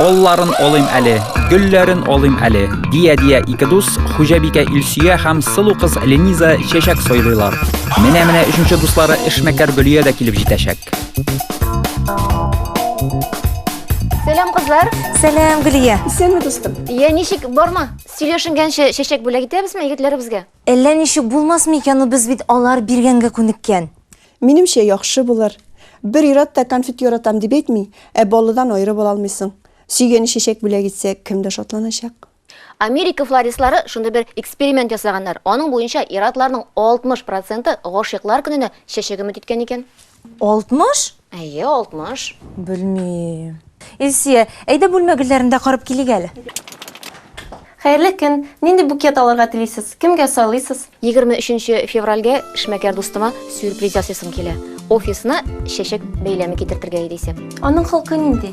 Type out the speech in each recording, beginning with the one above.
Олларын олыйм әле, гөлләрен олыйм әле, дия-дия ике дус, хуҗабикә Илсөя һәм сылу кыз Лениза чәчәк сойлыйлар. Менә-менә өченче дуслары эшмәкәр Гөлия дә килеп җитәчәк. Сәлам, кызлар. Сәлам, Гөлия. Исәнме, дустым? Иә, ничек, барма? Сөйләшенгәнче чәчәк бүләк итәбезме егетләребезгә? Әллә ничек булмас микән у без бит алар биргәнгә күнеккән. Минемчә яхшы булыр. Бер ир-ат та конфет яратам дип әйтми, ә баллыдан аерып ала алмыйсың. Сөйгәне чәчәк бүләк итсә, кем дә шатланачак. Америка флористлары шундый бер эксперимент ясаганнар, аның буенча ир-атларның 60 проценты гашыйклар көненә чәчәк өмет иткән икән. Алтмыш? Әйе, алтмыш. Белмим. Илсия, әйдә бүлмә гөлләрен дә карап килик әле. Хәерле көн! Нинди букет алырга телисез? Кемгә сайлыйсыз? Егерме өченче февральгә эшмәкәр дустыма сюрприз ясыйсым килә. Офисына чәчәк бәйләме китертергә иде исә. Аның холкы нинди?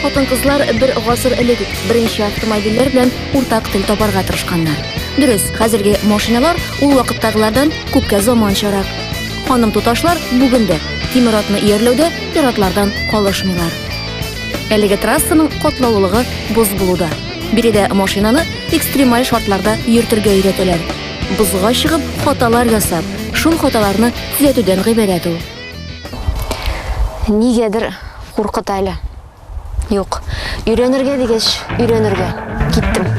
Хатын-кызлар бер гасыр элек үк беренче автомобильләр белән уртак тел табарга тырышканнар. Дөрес, хәзерге машиналар ул вакыттагылардан күпкә заманчарак. Ханым туташлар бүген дә тимер атны иярләүдә пиратлардан калышмыйлар. Әлеге трассаның катлаулылыгы боз булуда. Биредә машинаны экстремаль шартларда йөртергә өйрәтәләр. Бозга чыгып, хаталар ясап, шул хаталарны төзәтүдән гыйбарәт ул. Нигәдер Куркыта әле. Юк. Өйрәнергә дигәч, өйрәнергә. Киттем.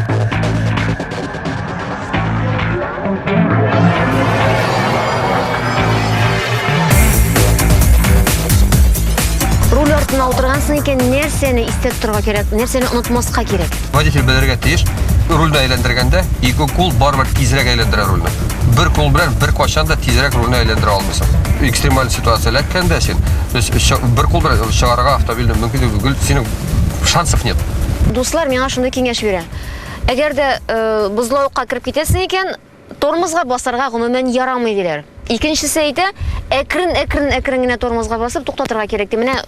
артына утыргансың икән, нәрсәне истә тотарга кирәк, нәрсәне онытмаска кирәк? Водитель белергә тиеш, рульда әйләндергәндә ике кул барыбер тизрәк әйләндерә рульне. Бер кул белән бер качан да тизрәк рульне әйләндерә алмый. экстремаль ситуация эләккән дә син без бер кул белән чыгарырга автомобильне мөмкин түгел синең шансов нет дуслар миңа шундый киңәш бирә әгәр дә э, бозлавыкка кереп китәсең икән тормозга басарга гомумән ярамый диләр икенчесе әйтә әкрен әкрен әкрен генә тормозга басып туктатырга кирәк ди менә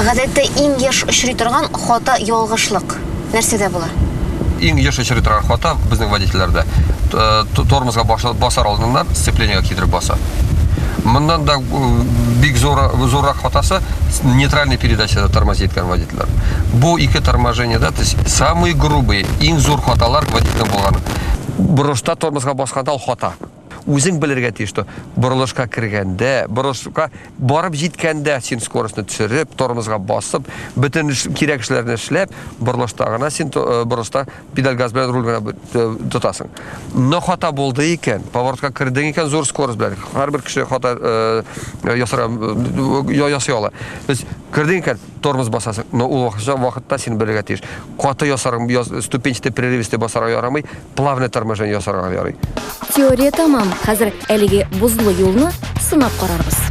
Гадәттә иң еш очрый торган хата ялгышлык нәрсәдә була? иң еш очрый торган хата безнең водительләрдә э, тормозга басар алдыннан сцеплениега китереп баса моннан да э, бик зур зуррак хатасы нейтральный передачада тормозит иткән водительләр бу ике торможениеда то есть самый грубый иң зур хаталар водительдә булган бурычта тормозга басканда ул хата Үзең белергә тиеш, что борылышка кергәндә, борылышка барып җиткәндә син скоростьны төшереп, тормозга басып, бөтен кирәк эшләрне эшләп, борылышта гына син э, борылышта педаль газ белән руль гына э, тотасың. Но хата булды икән, поворотка кердең икән зур скорость белән. Һәрбер кеше хата э, ясарга ясый ала. Без кердең икән, тормоз басасың, но ул вакытча вакытта син белергә тиеш. Каты ясарың, яз, ступенчатый прерывистый басарга ярамый, плавное торможение ясарга ярый. Теория тамам. Хәзер әлеге бозлы юлны сынап карарбыз.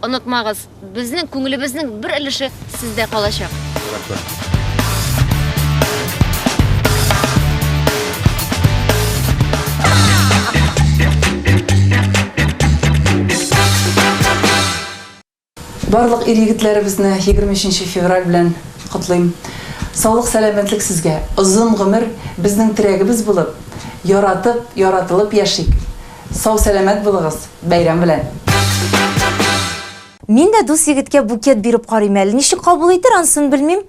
Онытмагыз, безнең күңелебезнең бер өлеше сездә калачак. Рәхмәт. Барлык ир-егетләребезне 23 нче февраль белән котлыйм. Саулык, сәламәтлек сезгә, озын гомер, безнең терәгебез булып, яратып, яратылып яшик! Сау сәләмәт булыгыз, бәйрәм белән! Мин дә дус егеткә букет биреп карыйм әле, ничек кабул итер, ансын белмим.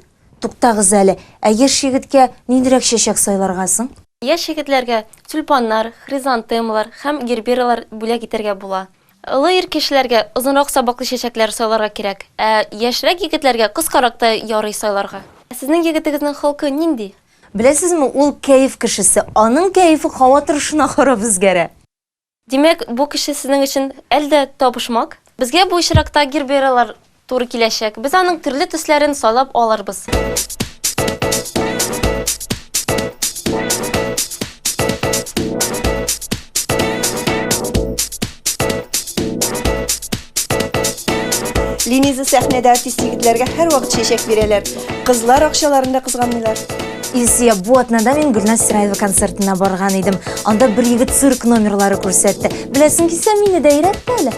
Туктагыз әле, ә яшь егеткә ниндирәк чәчәк сайларга соң? Яшь егетләргә тюльпаннар, хризантемалар һәм гербералар бүләк итәргә була. Олы ир кешеләргә озынрак сабаклы чәчәкләр сайларга кирәк, ә яшьрәк егетләргә кыскарак та ярый сайларга. Сезнең егетегезнең холкы нинди? Беләсезме, ул кәеф кешесе. Аның кәефе һава торышына карап үзгәрә. Димәк, бу кеше сезнең өчен әл дә табышмак. Безгә бу очракта гербералар туры киләчәк. Без аның төрле төсләрен сайлап алырбыз. Линиза сәхнәдә артист егетләргә һәрвакыт чәчәк бирәләр. Кызлар акчаларын да кызганмыйлар. Илсия, бу атнада мин Гөлназ Сираева концертына барган идем. Анда бер егет цирк номерлары күрсәтте. Беләсең килсә, мине дә өйрәт әле.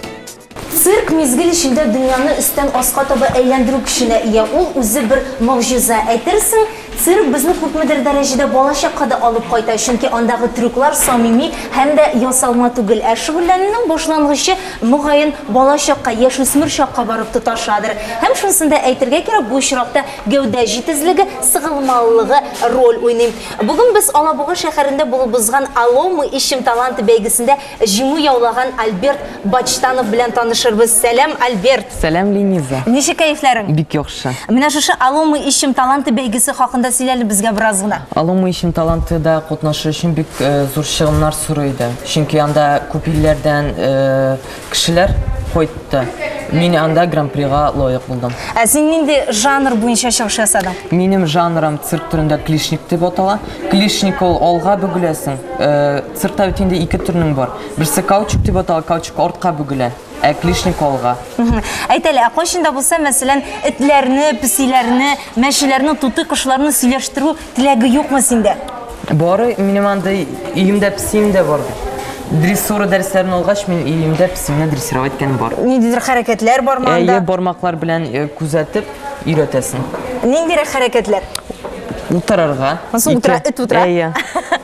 Цирк мизгел эчендә дөньяны өстән аска таба әйләндерү көченә ия, ул үзе бер могҗиза. Әйтерсең, цирк безне күпмедер дәрәҗәдә балачакка да алып кайта, чөнки андагы трюклар самими һәм дә ясалма түгел. Ә шөгыльләнүнең башлангычы, мөгаен, балачакка, яшүсмер чакка барып тоташадыр. Һәм шунысын да әйтергә кирәк, бу очракта гәүдә җитезлеге, сыгылмалылыгы роль уйный. Бүген без Алабуга шәһәрендә булып узган Алло, мы ищем таланты бәйгесендә Җиңү яулаган Альберт Бачтанов белән танышырбыз. Сәлам, Альберт! Сәлам, Лениза! Ничек кәефләрең? Бик яхшы. Менә шушы Алло, мы ищем таланты бәйгесе хакында сөйләле безгә бераз гына. Алло, мы ищем таланты да катнашу өчен бик зур чыгымнар сорый иде. Чөнки анда күп илләрдән кешеләр кайтты. Мин анда гран-прига лаек булдым. Ә син нинди жанр буенча чыгыш ясадың? Минем жанрым цирк төрендә клишник дип атала. Клишник ул алга бөгеләсең. Сыртта бит инде ике төрнең бар. Берсе каучук дип атала, каучук артка бүгелә, ә клишник алга. Әйт әле, ә кайчан да булса, мәсәлән, этләрне, песиләрне, мәчеләрне, туты кошларны сөйләштерү теләге юкмы синдә? Бары минем андый өемдә песием дә бар бит. Дрессура дәресләрен алгач, мин өемдә песимне дрессировать иткән бар. Ниндидер хәрәкәтләр бар монда? Әйе, бармаклар белән э, күзәтеп өйрәтәсең. Ниндирәк хәрәкәтләр? Утырырга. Соң утыра, эт утыра. Әйе.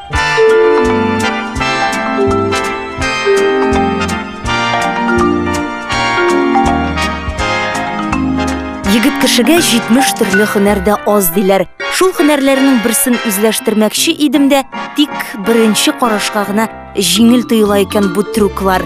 Егет кешегә 70 төрле хөнәрдә аз диләр. Шул хөнәрләрнең берсен үзләштермәкче идем дә, тик беренче карашка гына җиңел тоела икән бу трюклар.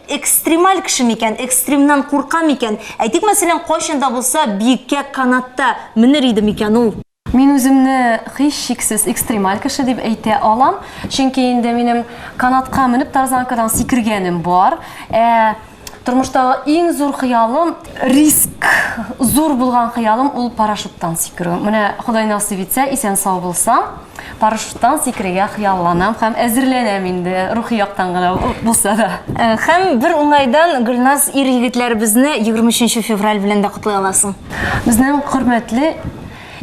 Экстремаль кеше микән, экстремнан курка микән? Әйтик, мәсәлән, кайчан да булса биеккә канатта менер иде микән ул? Мин үземне һичшиксез экстремаль кеше дип әйтә алам, чөнки инде минем канатка менеп тарзанкадан сикергәнем бар. Ә тормыштагы иң зур хыялым, риск зур булган хыялым ул парашюттан сикерү. Менә Ходай насыйп итсә, исән-сау булсам. Парашюттан сикерергә хыялланам һәм әзерләнәм инде, рухи яктан гына булса да. Һәм бер уңайдан, Гөлназ, ир-егетләребезне 23 нче февраль белән дә котлый аласың. Безнең хөрмәтле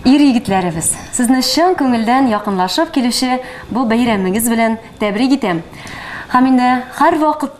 ир-егетләребез, сезне чын күңелдән якынлашып килүче бу бәйрәмегез белән тәбрик итәм һәм инде һәрвакыт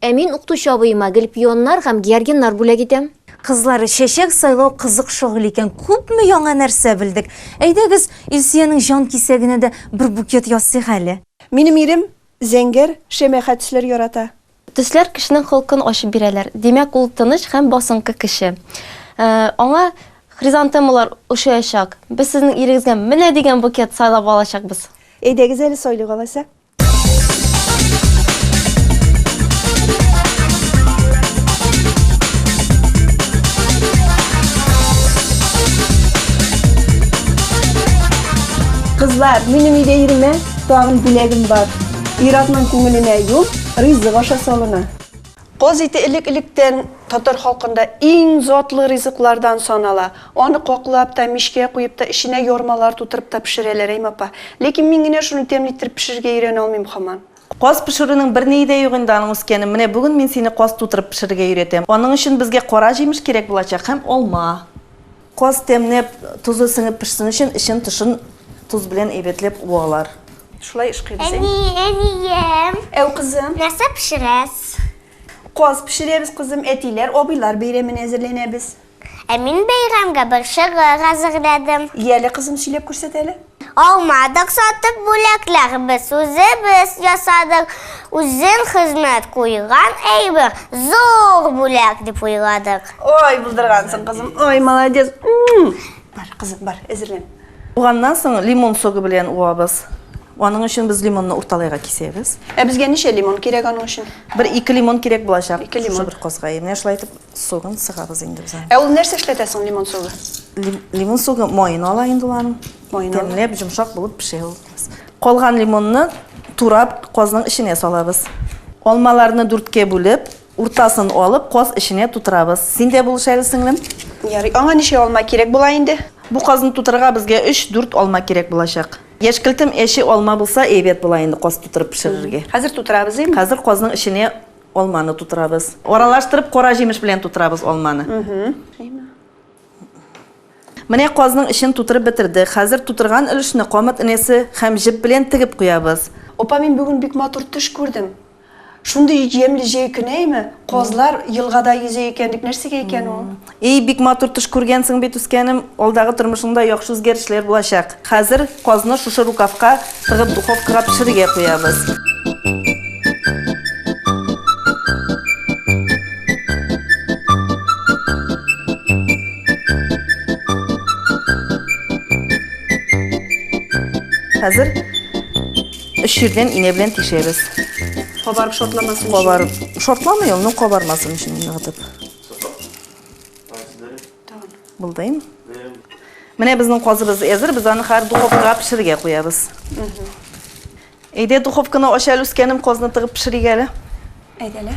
Ә мин укытучы абыема гел пионнар һәм георгиннар бүләк итәм. Кызлар, чәчәк сайлау кызык шөгыль икән, күпме яңа нәрсә белдек. Әйдәгез, Илсөянең җан кисәгенә дә бер букет ясыйк әле. Минем ирем зәңгәр, шәмәхә төсләр ярата. Төсләр кешенең холкын ачып бирәләр. Димәк, ул тыныч һәм басынкы кеше. Аңа хризантемалар ошыячак. Без сезнең ирегезгә менә дигән букет сайлап алачакбыз. Әйдәгез әле сайлыйк алайса. Кызлар, минем өйдә иремә тагын бүләгем бар. Иратның күңеленә юл, ризык аша салына. Каз ите элек-электән татар халкында иң затлы ризыклардан санала. Аны каклап та, мичкә куеп та, эченә ярмалар тутырып та пешерәләр, әйме, апа? Ләкин мин генә шуны тәмле иттереп пешерергә өйрәнә алмыйм хаман. Каз пешерүнең берние дә юк инде аның үскәне. Менә бүген мин сине каз тутырып пешерергә өйрәтәм. Аның өчен безгә кара җимеш кирәк булачак һәм алма. Каз тәмләп, тозы сеңеп пешсен өчен, эчен-тышын тоз белән әйбәтләп уалар. Шулай эшкыйбез, әй? Әни, әнием. Әу, кызым. Нәрсә пешерәс? Каз пешерәбез, кызым. Әтиләр, абыйлар бәйрәменә әзерләнәбез. Ә мин бәйрәмгә борчак әзерләдем. Яле, кызым, сөйләп күрсәт әле. Алмадык сатып бүләкләр без, үзебез ясадык. Үзен хезмәт куйган әйбер, зур бүләк дип уйладык. Ой, булдыргансың, кызым. Ой, молодец. Бар, кызым, бар, әзерлән. Туганнан соң лимон согы белән уабыз. Аның өчен без лимонны урталайга кисәбез. Ә безгә ничә лимон кирәк аның өчен? Бер ике лимон кирәк булачак. Ике лимон. Бер козгай. Менә шулай итеп согын сыгабыз инде без аны. Ә ул нәрсә эшләтә соң лимон согы? Лимон согы моен ала инде ул аның. Тәмләп, йомшак булып пешә ул. Калган лимонны турап казның эченә салабыз. Алмаларны дүрткә бүлеп, уртасын алып, каз эченә тутырабыз. Син дә булыш әле, сеңлем. Ярый. Аңа ничә алма кирәк була инде? Бу казны тутырырга безгә 3-4 алма кирәк булачак. Яшькелтем әче алма булса әйбәт була инде каз тутырып пешерергә. Хәзер тутырабыз, әйеме? Хәзер казның эченә Алманы тутырабыз. Аралаштырып кара җимеш белән тутырабыз алманы. Менә казның эчен тутырып бетердек. Хәзер тутырган өлешне камыт энәсе һәм җеп белән тегеп куябыз. Апа, мин бүген бик матур төш күрдем. Шундый ямьле җәй көне әйме? Казлар елгада йөзә икән бит, нәрсәгә икән ул? Ий, бик матур төш күргәнсең бит, үскәнем. Алдагы тормышыңда яхшы үзгәрешләр булачак. Хәзер казны шушы рукавка тыгып духовкага пешерергә куябыз. Хәзер өч җирдән инә белән тишәбез. Кабарып шортламасын. Кабарып. Шортламый ул, ну кабармасын өчен гына Булдыйм. Менә безнең казыбыз әзер, без аны хәзер духовкага пешерергә куябыз. Әйдә, духовканы ач әле, үскәнем, казны тыгып пешерик әле. Әйдәле.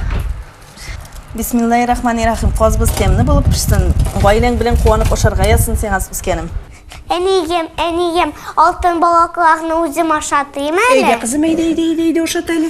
Бисмиллаһи рахмани рахим. Казбыз тәмле булып пешсен. Гаиләң белән куанып ашарга язсын сиңа үскәнем. Әнием, әнием, алтын балакларны үзем ашатыйм әле. Әйдә, кызым, әйдә, әйдә, әйдә, әйдә, ашат әле.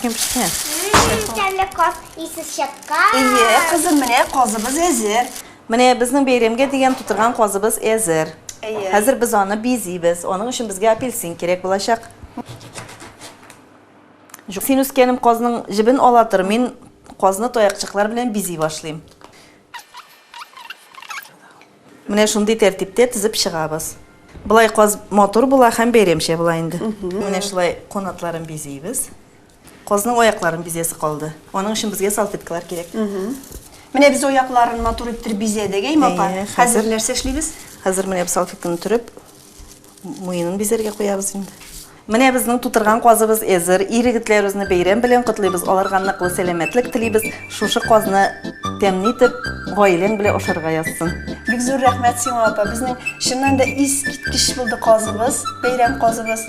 Кем пешкән? Тәмле каз исе чыккан. Әйе, кызым, менә казыбыз әзер. Менә безнең бәйрәмгә дигән тутырган казыбыз әзер. Әйе. Хәзер без аны бизибез. Аның өчен безгә апельсин кирәк булачак. Син, үскәнем, казның җебен ала тор, мин казны таякчыклар белән бизи башлыйм. Менә шундый тәртиптә тезеп чыгабыз. Болай каз матур була һәм бәйрәмчә була инде. Менә шулай канатларын бизибез. Казның аякларын бизәсе калды. Аның өчен безгә салфеткалар кирәк. Менә без аякларын матур иттереп бизәдек, әйме, апа? Хәзер нәрсә эшлибез? Хәзер менә без салфетканы төреп, Муенын бизәргә куябыз инде. Менә безнең тутырган казыбыз әзер. Ир-егетләребезне бәйрәм белән котлыйбыз, аларга ныклы сәламәтлек телибез. Шушы казны тәмле итеп, гаиләң белән ашарга язсын. Бик зур рәхмәт сиңа, апа. Безнең чыннан да искиткеч булды казыбыз, бәйрәм казыбыз.